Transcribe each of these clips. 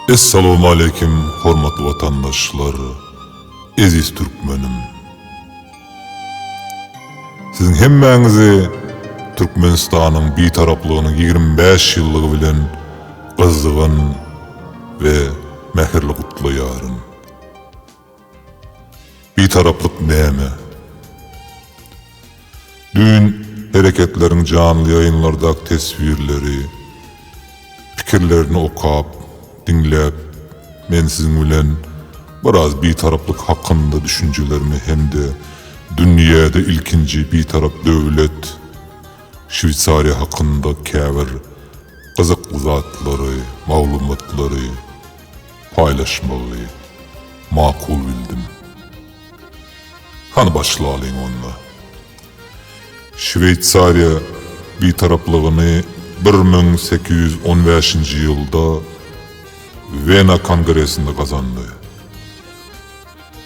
Essalawmaleýkim hormatly watandaşlar, eziz türkmenim! Siziň hemmäňizi Türkmenistanyň Bitaraplygynyň ýigrimi bäş ýyllygy bilen gyzgyn we mähirli gutlaýaryn. Bitaraplyk näme? Düýn Hereketleriň janly ýaýynlardaky teswirleri, pikirlerini okap, diňläp, men siziň bilen biraz bitaraplyk hakynda düşünjelerimi hem-de dünýäde ilkinji bitarap döwlet, Şweýsariýa hakynda käbir gyzykly zatlary, maglumatlary, paýlaşmagy makul bildim. Hany başlalyň onda. Şweýsariýa Bitaraplygyny bir müň sekiz ýüz on bäşinji ýylda Wena kongresinde gazandy.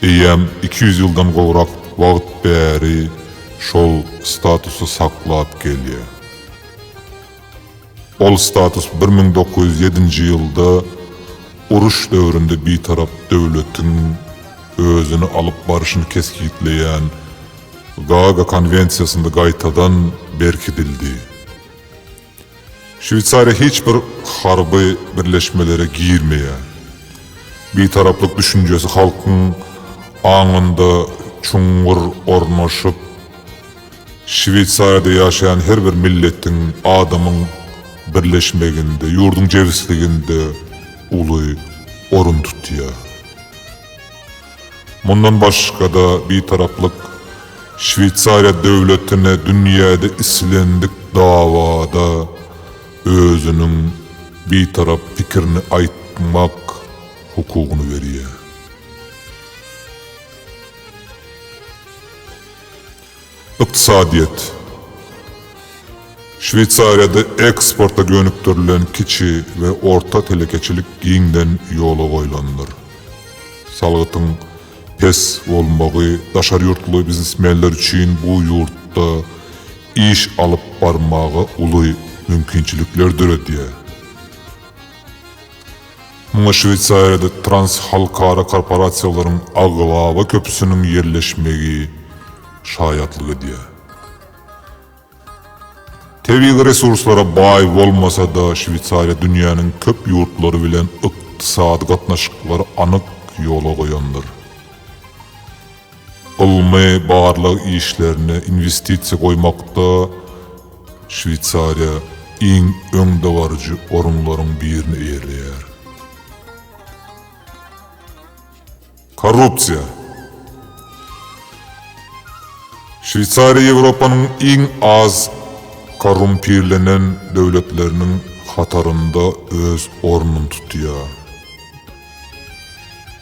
Eýýäm iki ýüz ýyldan gowrak wagt bäri şol statusy saklap gelýär. Ol status bir müň dokuz ýüz ýedinji ýylda uruş döwründe bitarap döwletiň özüni alyp barşyny kesgitleýän Gaaga konwensiýasynda gaýtadan berkidildi. Şweýsariýa hiç bir harby birleşmelere girmeýär. Bitaraplyk düşünjesi halkyň aňynda çuňňur ornaşyp, Şweýsariýada ýaşaýan her bir milletiň, adamyň birleşmeginde, ýurduň jebisliginde uly orun tutýar. Mundan başga-da, Bitaraplyk Şweýsariýa döwletine dünýäde islendik dawada özüniň Bitarap pikirini aýtmak hukugyny berýär. Ykdysadyýet Şweýsariýada eksporta gönükdirilen kiçi we orta telekeçilik giňden ýola goýlandyr. Salgytyň pes bolmagy daşary ýurtly biznesmenler üçin bu ýurtda iş alyp barmaga uly mümkinçilikler döredýär. Muňa Şweýsariýada transhalkara korporasiýalaryň aglaba köpüsiniň ýerleşmegi şaýatlyk edýär. Tebigy resurslara baý bolmasa-da, Şweýsariýa dünýäniň köp ýurtlary bilen ykdysady gatnaşyklary anyk ýola goýandyr. Ylmy-barlag işlerine inwestisiýa goýmakda Şweýsariýa iň öňdebaryjy orunlaryň birini eýeleýär. Korrupsiýa. Şweýsariýa Ýewropanyň iň az korrumpirlenen döwletleriniň hatarynda öz ornuny tutýar.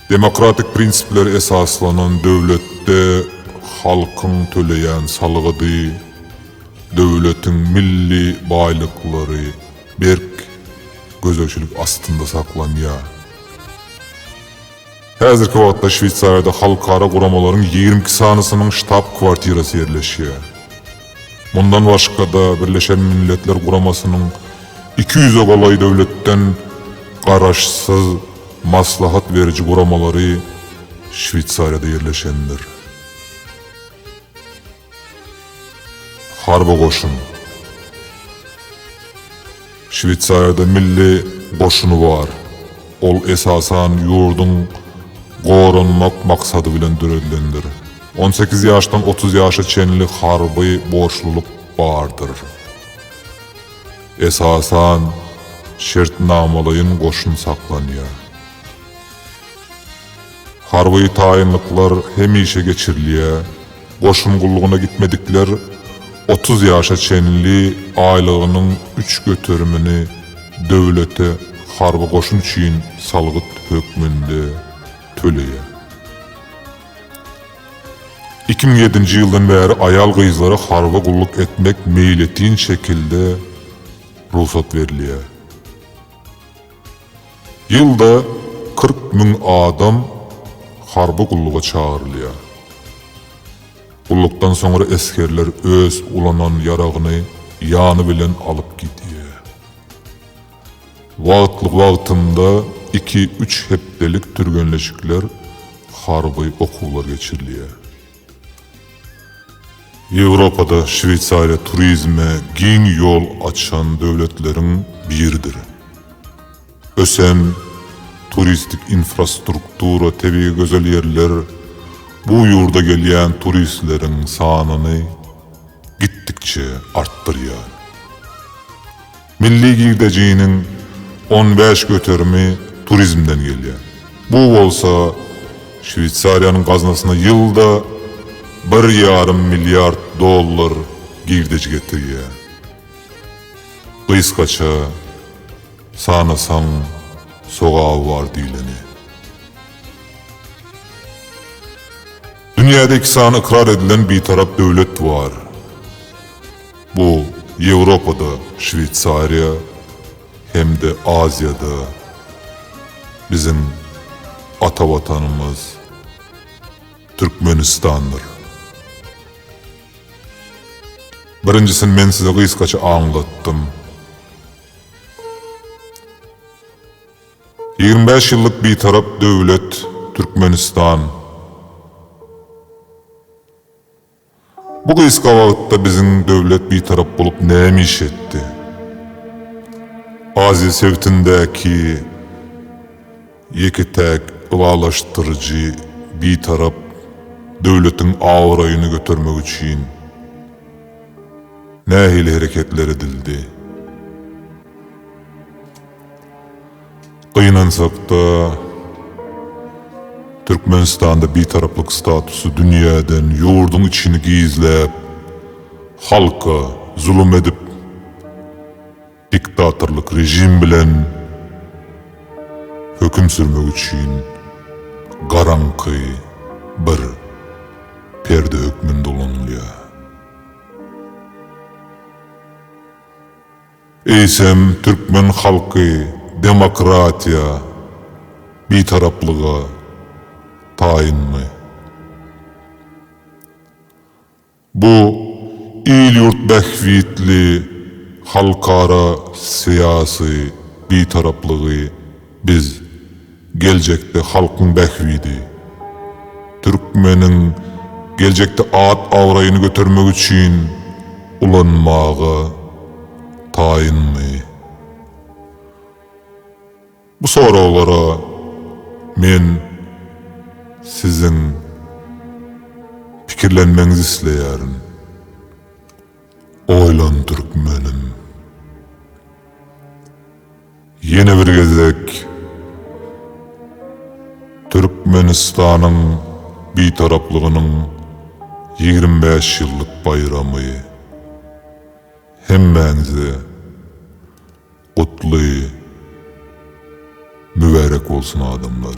Demokratik prinsiplere esaslanan döwletde halkyň töleýän salgydy, döwletiň milli baýlyklary berk gözegçilik astynda saklanýar. Häzirki wagtda Şweýsariýada halkara guramalaryň ýigrimi iki sanysynyň ştab-kwartirasy ýerleşýär. Mundan başga-da, Birleşen Milletler Guramasynyň iki ýüze golaý döwletden garaşsyz maslahat beriji guramalary Şweýsariýada ýerleşendir. Harby goşun. Şweýsariýada milli goşuny bar. Ol esasan ýurduň goranmak maksady bilen döredilendir. On sekiz ýaşdan otuz ýaşa çenli harby borçlulyk bardyr. Esasan şertnamalaýyn goşun saklanýar. Harby taýynlyklar hemişe geçirilýär. Goşun gullugyna gitmedikler otuz ýaşa çenli aýlygynyň üç göterimini döwlete harby goşun üçin salgyt hökmünde töleýär. Iki müň ýedinji ýyldan bäri aýal-gyzlara harby gulluk etmek meýletin şekilde rugsat berilýär. Ýylda kyrk müň adam harby gulluga çagyrylýar. Gullukdan soňra esgerler öz ulanan ýaragyny ýany bilen alyp gidýär. Wagtly-wagtynda iki-üç hepdelik türgenleşikler, harby okuwlar geçirilýär. Ýewropada Şweýsariýa turizme giň ýol açan döwletleriň biridir. Ösen turistik infrastruktura, tebigy gözel ýerler bu ýurda gelýän turistleriň sanyny gitdikçe artdyrýar. Milli girdejiniň on bäş göterimi turizmden gelýär. Bu bolsa Şweýsariýanyň gaznasyna ýylda bir ýarym milliard dollar girdeji getirýär. Gysgaça, sanasaň, sogaby bar diýleni. Dünýäde iki sany ykrar edilen Bitarap döwlet bar. Bu Ýewropada Şweýsariýa hem-de Aziýada biziň ata Watanymyz Türkmenistandyr. Birinjisini men size gysgaça aňlatdym. Ýigrimi bäş ýyllyk Bitarap döwlet Türkmenistan. Bu gysga wagtda biziň döwlet bitarap bolup näme iş etdi? Aziýa sebitindäki ýeke-täk ylalaşdyryjy bitarap döwletiň abraýyny götermek üçin nähili hereketler edildi? Gynansak-da, Türkmenistanda bitaraplyk statusy dünýäden ýurduň içini gizläp, halka zulum edip, diktatorlyk režim bilen höküm sürmek üçin garaňky bir perde hökmünde ulanylýar. Eýsem, türkmen halky demokratiýa, bitaraplyga taýynmy? Bu il-ýurt bähbitli halkara syýasy bitaraplygy Biz, geljekde halkyň bähbidi, türkmeniň geljekde at-abraýyny götermek üçin ulanmaga taýynmy? Bu soraglara men siziň pikirlenmegiňizi isleýärin. Oýlan türkmenim! Ýene bir gezek Türkmenistanyň Bitaraplygynyň ýigrimi bäş ýyllyk baýramy hemmäňize gutly mübärek bolsun adamlar!